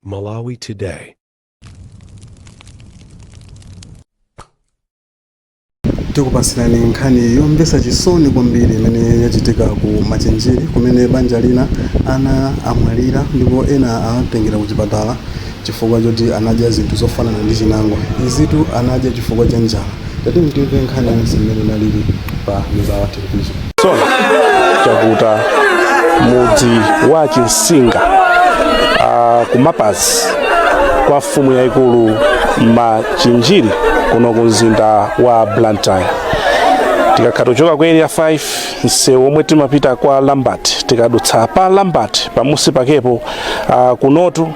Malawi Today. tikupasirani nkhani yomvetsa chisoni kwambiri imene yachitika ku Machinjiri kumene banja lina ana amwalira ndipo ena atengeredwa ku chipatala chifukwa choti anadya zinthu zofanana ndi chinangwa izitu anadya chifukwa cha njala tati timve nkhani yonse mmene inalili pa Mibawa chisoni chakuta mudzi wa chinsinga uh, kumapazi kwa mfumu yayikulu machinjiri kuno ku mzinda wa blantyre tikakhala tochoka ku area 5 msewu omwe timapita kwa lambert tikadutsa pa lambert pamunsi pakepo uh, kunotu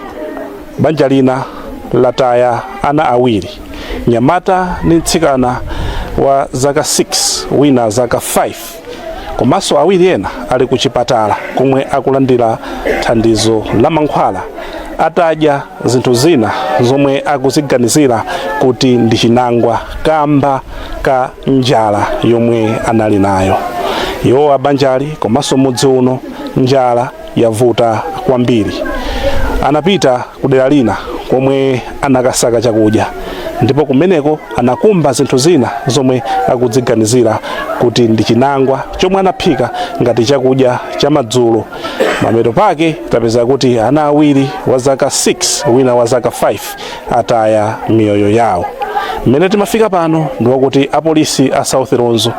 Banja lina lataya ana awiri, mnyamata ndi mtsikana wa zaka 6 wina zaka 5 komanso awiri ena ali ku chipatala komwe akulandira thandizo la mankhwala atadya zinthu zina zomwe akuziganizira kuti ndi chinangwa kamba ka njala yomwe anali nayo. Iwo a banjali komanso mudzi uno njala yavuta kwambiri. Anapita ku dera lina komwe anakasaka chakudya ndipo kumeneko anakumba zinthu zina zomwe akuziganizira kuti ndi chinangwa chomwe anaphika ngati chakudya cha madzulo. Mapeto pake tapezeka kuti ana awiri wa zaka 6 wina wa zaka 5 ataya miyoyo yawo. Mmene timafika pano ndi wakuti apolisi a South Lunzu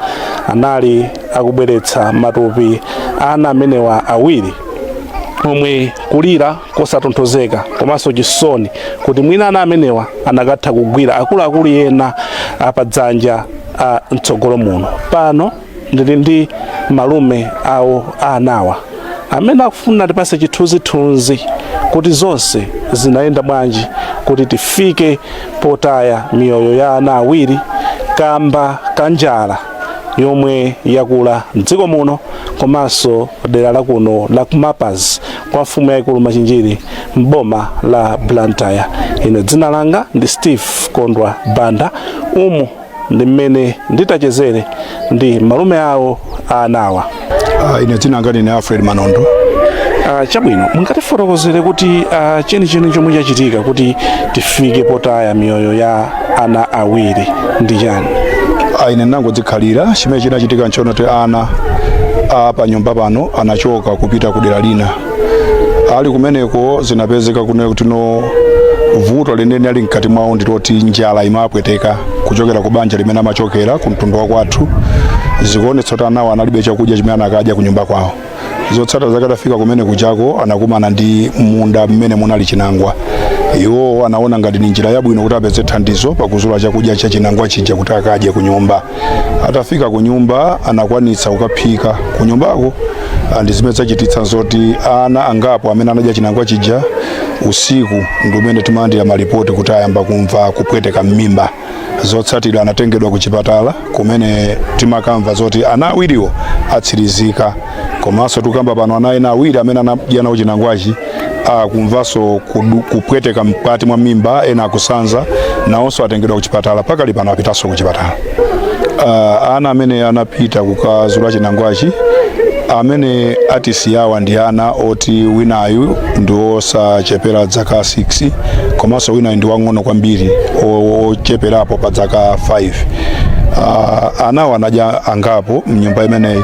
anali akubweretsa matupi a ana amenewa awiri omwe kulira kosatonthozeka komanso chisoni kuti mwina ana amenewa anakatha kugwira akuluakulu ena apadzanja a mtsogolo muno pano ndili ndi malume awo a anawa amene akufuna atipatse chithunzithunzi kuti zonse zinayenda bwanji kuti tifike potaya miyoyo ya ana awiri kamba ka njala yomwe yakula mdziko muno komanso dera la kuno la kumapazi kwa mfumu yaikulu Machinjiri m'boma la Blantyre. Ine dzina langa ndi Steve Kondwa Banda. Umu ndi mmene ndidachezera ndi malume awo a anawa. Uh, ine dzina langa ndine Alfred Manondo Uh, chabwino mungatifotokozere kuti uh, chenicheni chomwe chachitika kuti tifike potaya miyoyo ya ana awiri ndi chani uh, ine nangodzikhalira chimene chinachitika nchonena kuti ana a panyumba pano anachoka kupita ku dera lina ali kumeneko zinapezeka kunena kuti no vuto lenileni ali mkati mwawo ndiloti njala imapweteka kuchokera ku banja limene amachokera ku mtundu wa kwathu zikuonetsa kuti anawo analibe chakudya chimene anakadya ku nyumba kwawo zotsatira zake atafika kumene kuchako anakumana ndi munda mmene munali chinangwa iwo anaona ngati ni njira yabwino kuti apeze thandizo pakuzula chakudya cha chinangwa chija kuti akadye ku nyumba atafika ku nyumba anakwanitsa kukaphika ku nyumbako ah, ndi zimene zachititsa zoti ana angapo amene anadya chinangwa chija usiku ndi umene timalandira malipoti kuti ayamba kumva kupweteka m'mimba zotsatira anatengedwa ku chipatala kumene timakamva zoti ana awiriwo atsirizika komanso tukamba pano ana ena awiri amene anadya nawo chinangwachi akumvanso kudu- kupweteka mkati mwa mimba ena akusanza nawonso atengedwa kuchipatala pakali pano apitanso kuchipatala uh, ana amene anapita kukazula chinangwachi amene atisiyawa ndi ana oti winayu ndi osachepera dzaka 6 komanso winayu ndi wang'ono kwambiri o- ocheperapo pa dzaka 5 uh, anawo anadya angapo mnyumba imeneyi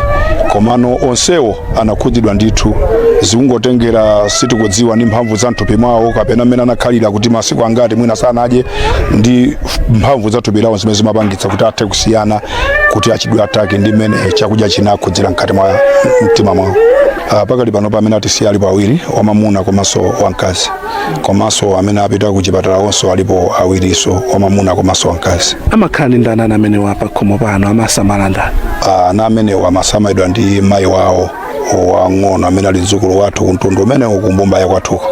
komano onsewo anakhudzidwa ndithu zikungotengera sitikudziwa ndi mphamvu za mthupi mwawo kapena mmene anakhalira kuti masiku angati mwina sanadye ndi mphamvu za thupi lawo zimene zimapangitsa kuti athe kusiyana kuti achidwe atake ndi mmene chakudya chinakhudzira mkati mwa mtima mwawo uh, pakali pano pa amene atisiya alipo awiri wamamuna komanso wamkazi komanso amene apita ku chipatala onso alipo awiriso wamamuna komanso wamkazi amakhala ndi ndani ana amenewa pakhomo pano amawasamala ndani Ah, ana amenewo amasamalidwa ndi mayi wawo wang'ono amene ali mdzukulu wathu kumtundu umenewo kumbumba ya kwathuko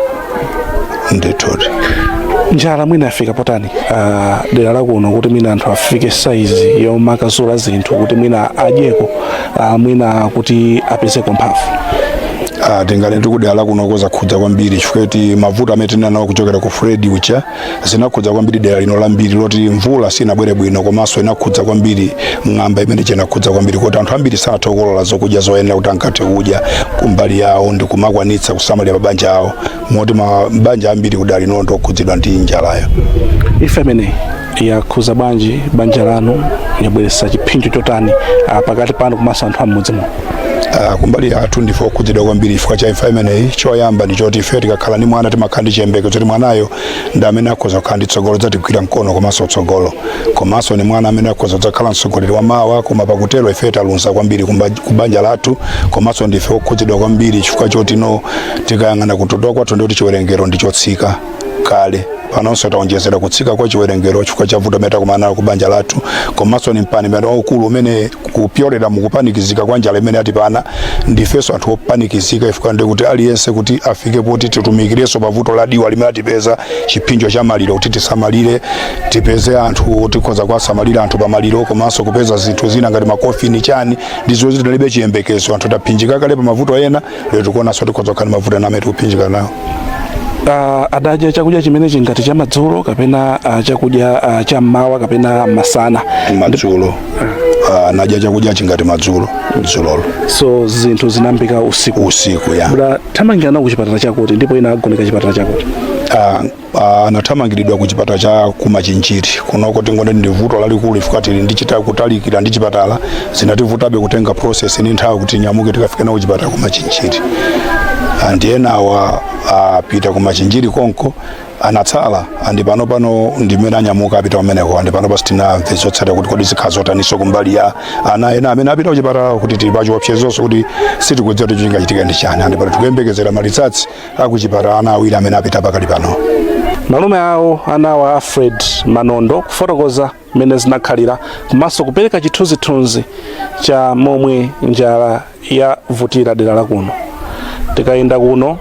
ndithudi njala mwina yafika potani ah, dera lakuno kuti mwina anthu afike saizi yomakazula zinthu kuti mwina adyeko ah, mwina kuti apezeko mphamvu Ah, tinganene kuti kudera lakunoko zakhudza kwambiri chifukwa kuti mavuto amene tinali nawo kuchokera ku Freddy uja zinakhudza kwambiri dera lino lambiri loti mvula sinabwere bwino komanso inakhudza kwambiri ng'amba imene chinakhudza kwambiri kuti anthu ambiri sanathe kukolola zokudya zoyenera kuti ankathe kudya kumbali yawo ndi kumakwanitsa kusamalira mabanja awo moti mabanja ambiri kudera lino ndokhudzidwa ndi njalayo imfa imeneyi yakhuza bwanji banja lanu yabweretsa chiphinjo chotani ah, pakati panu komanso anthu am'mudzi muno Ah, kumbali yathu ndife okhudzidwa kwambiri chifukwa cha imfa imeneyi choyamba ndi choti ife tikakhala ndi mwana timakhala ndi chiyembekezo kuti mwanayo ndi amene akhoza kukhala ndi tsogolo lodzatigwira mkono komanso tsogolo komanso ni mwana amene akhoza kudzakhala mtsogoleri wa mawa koma pakutero ife taluza kwambiri kumba- kubanja lathu komanso ndife okhudzidwa kwambiri chifukwa choti no tikayang'ana kutukuka kwathu ndi kuti chiwerengero ndi chotsika kale panonso taonjezera kutsika kwa chiwerengero chifukwa cha vuto limene takumana nalo ku banja lathu komanso ndi mpanipani waukulu umene kupyolera mukupanikizika kwa njala imene yatipana ndifenso anthu opanikizika chifukwa ndi kuti aliyense kuti afike poti titumikirenso pa vuto ladziwa limene latipeza chiphinjo cha maliro kuti tisamalire tipeze anthu tikhoza kuwasamalira anthu pa maliro komanso kupeza zinthu zina ngati makofini chani ndi zoti tilibe chiyembekezo anthu taphinjika kale pa mavuto ena lero tikuonanso tikhoza kukhala ndi mavuto ena amene tikuphinjika nawo Ah, adadya chakudya chimene chingati cha madzulo kapena ah, chakudya ah, cha mmawa kapena masana madzulo Ah, anadya chakudya chingati madzulo dzulolo so zinthu zinayambika usiku usiku ya Bra, athamangira nawo ku chipatala chakuti ndipo ina agonekedwa chipatala chakuti Ah, Ah, anathamangiridwa ku chipatala cha kumachinjiri kunoko tingonena ndi vuto lalikulu chifukwa tili ndi kuchita kutalikira ndi chipatala zinativutabe kutenga process ndi nthawi kuti tinyamuke tikafike nawo chipatala kumachinjiri and enawa apita kumachinjiri konko anatsala andi pano pano ndimene anyamuka apita kumeneko andi pano pano sitinamve zotsata kuti kodi zikhala zotaninso kumbali ya ana ena amene apita kuchipatala kuti tili pachiopsezonso kuti sitikudziwa kuti chingachitika ndi chani andi pano tikuyembekezera ma results akuchipatala ana awiri amene apita pakali pano malume awo anawa a alfred manondo kufotokoza mmene zinakhalira komanso kupereka chithunzithunzi cha momwe njala yavutira dera la kuno tikayenda kuno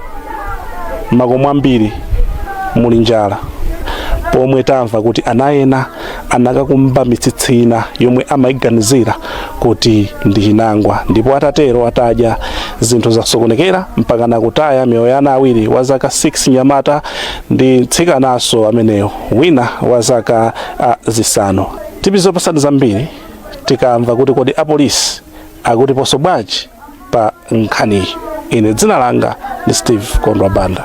makomo ambiri muli njala pomwe tamva kuti ana ena anakakumba mitsitsi ina yomwe amayiganizira kuti ndi chinangwa ndipo atatero atadya zinthu zasokonekera mpaka nakutaya miyoyo ya ana awiri wa zaka 6 mnyamata ndi mtsikananso ameneyo wina wa zaka uh, zisanu tidzakupatsani zambiri tikamva kuti kodi apolisi akutiponso bwanji pa nkhaniyi ine dzina langa ndi steve kondwa banda